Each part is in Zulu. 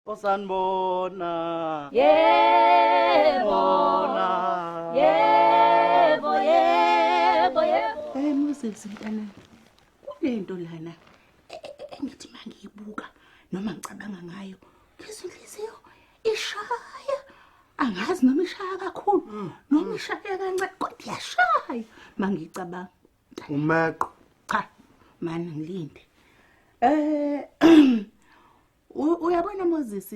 osanibona yebo bona yebo yebo yebo hey moses mntana kunento lana engithi mangiyibuka noma ngicabanga ngayo ngizwa inhliziyo ishaya angazi noma ishaya kakhulu mm. noma ishaya kancane kodwa iyashaya mangicabanga umeqo cha mani ngilinde eh uyabona Moses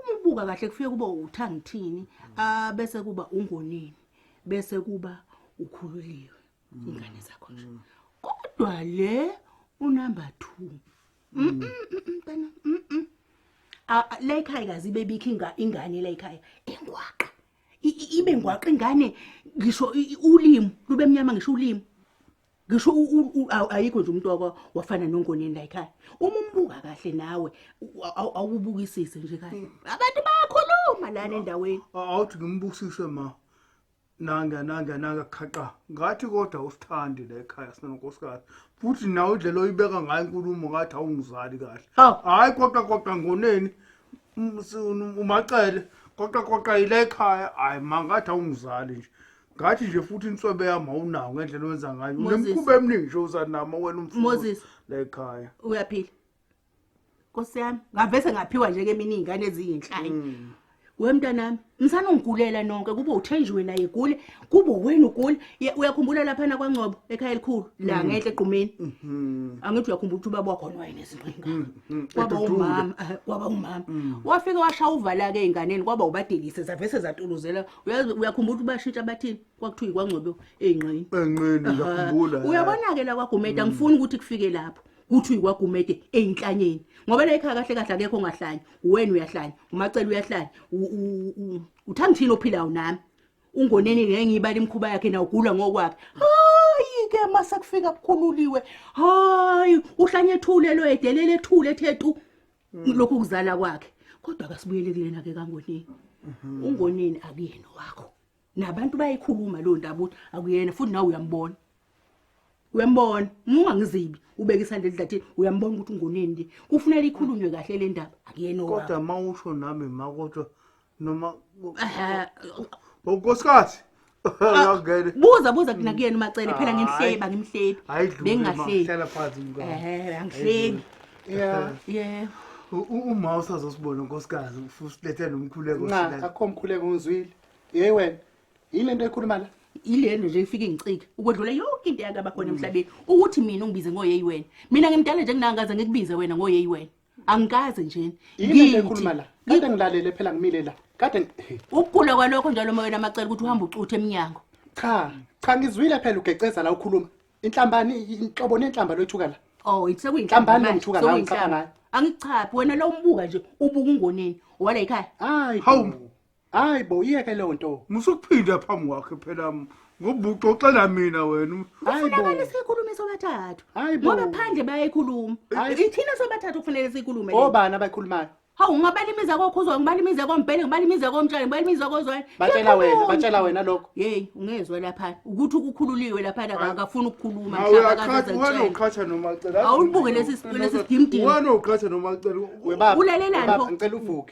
umubuka kahle kufike kuba uthangithini abese kuba ungonini bese kuba ukhululiwe mm. ingane zakho nje mm. kodwa le unumber 2 mm. bana la ekhaya kazi bebikho inga ingane la ekhaya ingwaqa ibe ngwaqa ingane ngisho ulimi lube mnyama ngisho ulimi ngisho ayikho nje umuntu waka wafana nongoneni la ekhaya uma umbuka kahle nawe awubukisise nje kahle mm. abantu bayakhuluma lana endaweni awuthi ngimbukisise ma nanga nanga nanga khaqa ngathi kodwa usithandi la ekhaya sinonkosikazi futhi nawe indlela oyibeka ngayo inkulumo ngathi awungizali kahle hayi kodwa kodwa ngoneni umacele kodwa kodwa yile ekhaya hayi mangathi awungizali nje ngathi nje futhi inswebe yami awunawo ngendlela owenza ngayo Moses. unemkhuba eminingi nje uzanama wena umfundi Moses. la ekhaya uyaphila nkosi yami ngavese ngaphiwa nje kemini iy'ngane eziyinhlanye Mm. we mntanami msana ungigulela nonke kube uthenjiwe naye egule kube wena ugule Ye- uyakhumbula laphana kwangcobo ekhaya elikhulu Mm. la ngenhle egqumeni Mhm. angithi uyakhumbula ukuthi ubaba wakhona wayenezingqinga Mm, kwaba edudule. umama eh, kwaba umama wafike washaya uvala-ke ey'nganeni kwaba ubadelise zavese zatuluzela uyazi uyakhumbula ukuthi bashintsha bathini kwakuthiwa ikwangcobo enqini enqini ngiyakhumbula uyabona ke la kwagumede mm. angifuni ukuthi kufike lapho kuthi uyikwagumede eyinhlanyeni ngoba la ekhaya kahle kahle akekho ongahlanya wena uyahlanya umacela uyahlanya uthanda thina ophilayo nami ungoneni ngengiyibala imkhuba yakhe na ugula ngokwakhe hayi ke mase kufika kukhululiwe hayi uhlanye ethulelo edelele ethule ethe tu Mm. lokhu kuzala kwakhe kodwa akasibuyele kulena ke kangonini mhm. ungonini akuyena wakho nabantu bayikhuluma lo ndaba ukuthi akuyena futhi nawe uyambona uyambona ungangizibi ubeke isandla edlathini uyambona ukuthi ungonini nje kufuneka ikhulunywe kahle le ndaba akuyena wakho kodwa mawusho nami makodwa noma Ehhe, unkosikazi ngangene buza buza kina kuyena umacele phela ngimhleba ngimhlebi ayidlule Bengingahleki. hlala phansi mkami ehe angihlebi Yeah. ye U- u- uma usazosibona unkosikazi usilethe nomkhuleko Nca, silale. akho mkhuleko ngizwile. Hey wena, yini into ekhuluma la? yilento nje ifike ingicike ukwedlula yonke into eyakaba khona emhlabeni ukuthi mina ungibize ngoyeyi wena mina ngimdala nje nginangaze ngikubize wena ngoyeyi wena angikaze njena yini ekhuluma la kade ngilalele phela ngimile la kade ukugula kwalokho njalo moyena amacela ukuthi uhamba ucuthe eminyango cha cha ngizwile phela ugeceza la ukhuluma inhlambani inhlobo nenhlamba loyithuka la oh sekuyinhlambani lengithuka la ngichapha ngayo angichaphi wena lo umbuka nje ubuka ungoneni wala yikhaya hayi hawu Hayi bo yeke leyo nto. Musukuphinda phambi kwakhe phela ngoba uxoxela mina wena. Hayi bo. Kufanele sikhulume sobathathu. Hayi bo. Ngoba phandle bayayikhuluma. Ithina sobathathu kufanele sikhulume. Obani abayikhulumayo? Hawu ngabalimiza kokhuzwa ngibalimize kompele ngibalimize komtshali ngibalimize kozwani. Batshela wena batshela wena lokho. Hey ungezwe lapha ukuthi ukukhululiwe lapha akafuni ukukhuluma mhlaba kaze. Wena uqhatha nomacela. Awulibuke lesi sicelo sesigimdini. Wena uqhatha nomacela. Webaba. Ulalelani pho? Ngicela uvuke.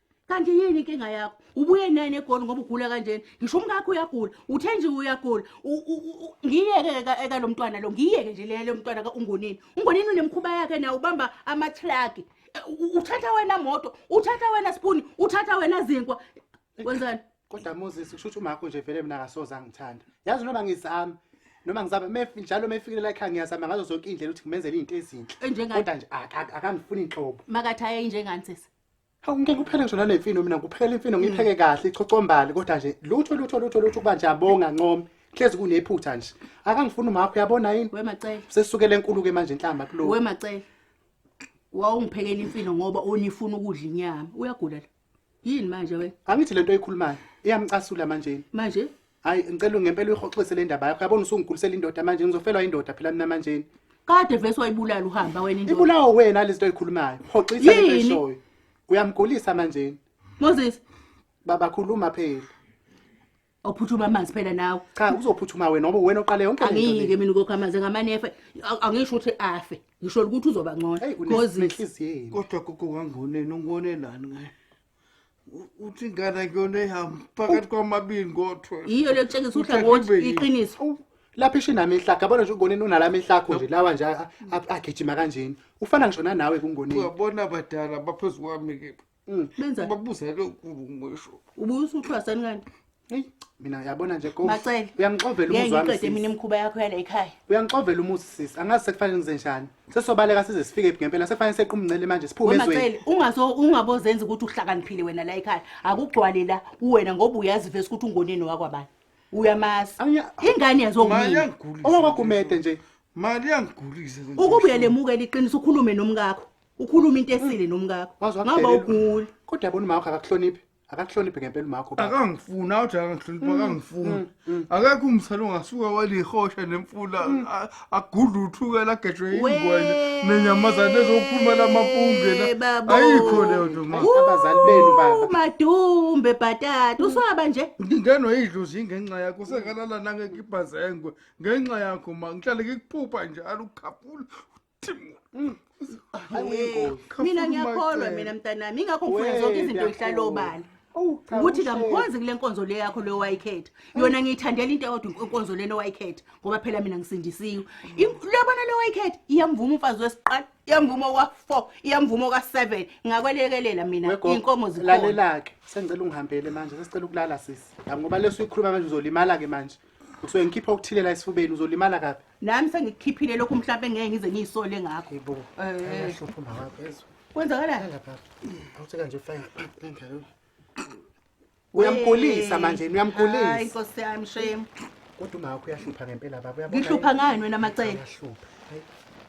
kanti yini inkinga yakho ubuye nani egoli ngoba ugula kanjena ngisho umkakho uyagula uthe nje uyagula ngiyeke-ke eka lo mntwana lo ngiyeke nje lele mntwana kaungonini ungonini unemkhuba yakhe naye ubamba amathraki e, uthatha wena moto uthatha wena sipuni uthatha wena zinkwa kwenzani kodwa moses kusho ukuthi umakho nje vele mina akasoze angithanda yazi noma ngizama noma ngizaba mefi njalo mefikile la ekhaya ngiyazama ngazo zonke indlela ukuthi ngimenzele izinto ezinhle kodwa nje akangifuni inhlobo makathi aye njengani sisi Hawu ngeke uphele ngisho nale mfino mina ngiphekela imfino ngipheke kahle ichocombali kodwa nje lutho lutho lutho lutho kuba nje abonga ncome hlezi kunephutha nje akangifuni umakho uyabona yini we macele sesukele enkulu ke manje inhlamba kulo we macele wawungiphekela imfino ngoba unifuna ukudla inyama uyagula la yini manje wena angithi lento oyikhulumayo iyamcasula manje manje hayi ngicela ngempela uyihoxise le ndaba yakho yabona usungikhulise indoda manje ngizofelwa indoda phela mina manje kade vese wayibulala uhamba wena indoda ibulawa wena lezinto oyikhulumayo hoxisa into eshoyo uyamgulisa manje Moses baba khuluma phela ophuthuma amanzi phela nawe cha uzophuthuma wena ngoba wena oqale yonke into angiyike mina ukokha amanzi ngamanefe angisho ukuthi afe ngisho ukuthi uzoba ngcono because kodwa kuku wangoneni ungonelani ngaye uthi ingane akuyona ehambe phakathi kwamabili ngodwa yiyo le kutshengisa uhlangothi iqiniso lapha isho inami ihlakho yabona nje ungoneni unalami ihlakho nje lawa nje agijima kanjeni ufana ngisho nanawe kungoneni uyabona abadala baphezu kwami-ke mm. benza babuze lokhu ngisho ubuye usuthwasani kanti Hey, mina yabona nje go. Macele. Uyangixovela Ngeke umuzi wami. ngiqede mina sis. imikhuba yakho yala ekhaya. Uyangixovela umuzi sis. Angazi sekufanele ngize njani. Sesobaleka size sifike phi ngempela. Sekufanele sequmncele manje siphume ezweni. Wemacele ungazo ungabozenza ukuthi uhlakaniphile wena la ekhaya. Akugcwale la uwena ngoba uyazi vese ukuthi ungoneni wakwabani. Uyamazi. Anya- Ingane yazo Mali unina. yangigulisa. Owakwagumede nje. Mali yangigulisa. le nto. Ukube uyalemukela iqiniso ukhulume nomkakho. Ukhulume into esile nomkakho. Wazi Ngaba wakudelela. uguli. Kodwa yabona uma wakho akakuhloniphi. akakuhloniphe ngempela umakho baba. akangifuni awuthi akangihlonipha Mm, akangifuni akekho umsana ongasuka walihosha nemfula Mm. a- agudle uthukela agejwe ingwenya nenyamazane ezokhuluma lamapungena babo. ayikho leyo nto ma Ayi, abazali benu baba umadumbe bhatata usaba nje ngingenwa idlozi ngenxa yakho sengalala nangekibhazengwe ngenxa yakho ma ngihlale ngikuphupha njalo ukukhaphula mina ngiyakholwa mina mntanami ingakho ngifuna zonke izinto ngihlala obala ukuthi kamkhonzi kule nkonzo le yakho leyo wayikhetha yona ngiyithandela into eyodwa inkonzo lena owayikhetha ngoba phela mina ngisindisiwe lobona le wayikhetha iyamvuma umfazi wesiqala iyamvuma oka-four iyamvuma oka-seven ngakwelekelela mina iy'nkomo zikhona lalelake sengicela ungihambele manje sesicela ukulala sisi ngoba leso uyikhuluma manje uzolimala-ke manje Ngisuke ngikhipha okuthile la esifubeni uzolimala kabi. Nami sengikukhiphile lokhu mhlawumbe ngeke ngize ngiyisole ngakho. Yebo. Eh. Ayahlupha umama wakho ezwa. Kwenzakalani? Lapha. Awuthe kanje ufake ngalo. Uyamgulisa manje, Hayi uyamgulisa. Nkosi yami shame. Kodwa umama wakho uyahlupha ngempela baba. Uyabona Ngihlupha yini? ngani wena macele? Uyahlupha. Hayi.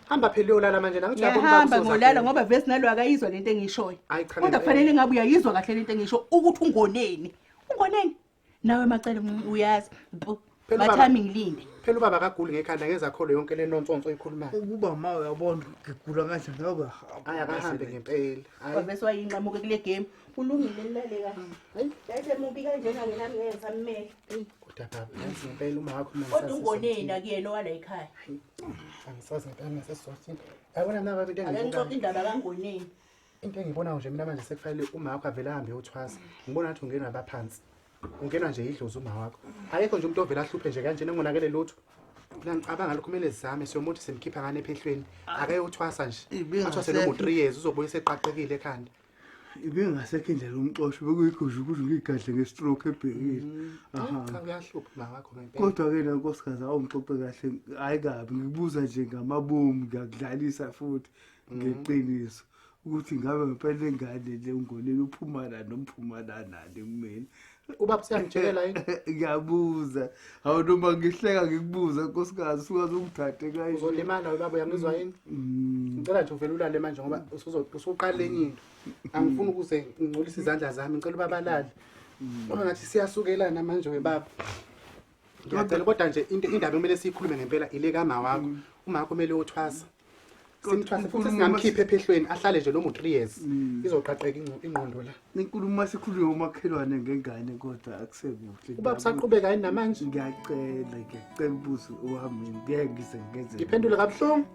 Hamba phela uyolala manje la ngithi uyabona Ngiyahamba uzoza ngolala kuwe. ngoba vese nalo akayizwa lento engiyishoyo. Hayi, cha, Kodwa ngempela. kufanele ngabe uyayizwa kahle lento engisho ukuthi ungoneni. Ungoneni? nawe macele mncinci uyazi Mpu, Phela ubaba- mathami ngilinde phela ubaba akaguli ngekhanda ngezakholo yonke le nonsonso eyikhulumayo ukuba ma uyabona ukuthi ngigula kanjani nawe uyahamba hayi akahambe ngempela hayi wavese wayinqamuke kule game kulungile lilale kahle yayisemubi kanjena ngenami ngeke ngisammele kodwa baba yazi ngempela uma wakho kodwa ungoneni akuyena owala ekhaya angisazi ngempela ngasesizothin yabona mna baba into ake ngixoxe engibukayo indaba kangoneni into engiyibonayo nje mina manje sekufanele uma wakho avele ahambe yothwasa ngibona ngathi ungena abaphansi ungena nje yidlozi uma wakho akekho nje umuntu ovele ahluphe nje kanjena engonakele lutho nangicabanga lokho kumele sizame siyomuthi simkhipha ngane ephehlweni ah. akayothwasa nje athwase nomu three years uzobuye seqaqekile ekhanda ibingasekho indlela umxosho bekuyigusha ukuthi ngiyigadle nge-stroke ebhekile mm-hmm. kodwa-ke na nkosikazi awungixoxe kahle hhayi kabi ngikubuza nje ngamabomu ngiyakudlalisa futhi ngeqiniso ukuthi ngabe ngempela ingane le ungonile uphumana nomphumanana le kumina ubaba siyangitshela yini ngiyabuza hawu noma ngihleka ngikubuza nkosikazi sukaze ungithathe kayi uzolimala ubaba uyangizwa yini mm. ngicela nje uvele ulale manje ngoba usuqala enye into angifuni ukuze ngingcolise izandla zami ngicela ubabalale mm. ngoba ngathi siyasukelana manje webaba ngiyacela kodwa nje into indaba kumele siyikhulume ngempela ile kama wakho mm. uma wakho kumele uthwasa simthwase futhi singamkhiphe ephehlweni ahlale nje noma u-three years mm. izoqaqeka ingqondo la inkulumo sikhulume umakhelwane ngengane kodwa akusekuhle uba kusaqhubeka yini namanje ngiyacela ngiyacela ubuze uhambe ngeke ngize ngenze ngiphendule kabuhlungu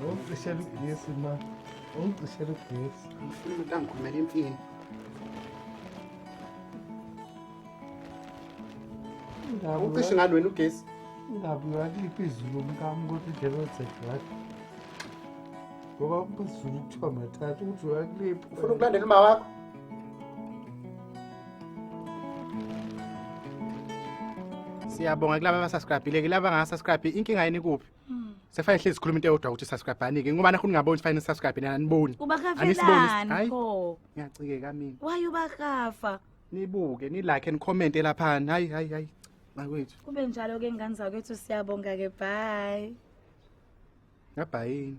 Ungicishela ugesi ma. Ungicishela ugesi. Ngifuna umuntu angikhumela imfini. Ucishe ngani wena ugesi? Ingabe uyaliphi izulu lomkami ukuthi idlelo zegadi? Ngoba umphezulu kuthiwa mathatha ukuthi uyakuliphi. Ufuna ukulandela uma wakho? siyabonga kulaba abasubscribile ke laba angasubscribe inkinga yini kuphi hmm. sefane hlezi sikhuluma into eyodwa ukuthi subscribe anike ngoba nakho ningaboni sifane subscribe nina aniboni ubakafelani pho ngiyacikeka mina waye ubakafa nibuke nilike and comment elaphani hayi hayi hayi makwethu kube njalo ke ngane zakwethu siyabonga ke bye ngabhayini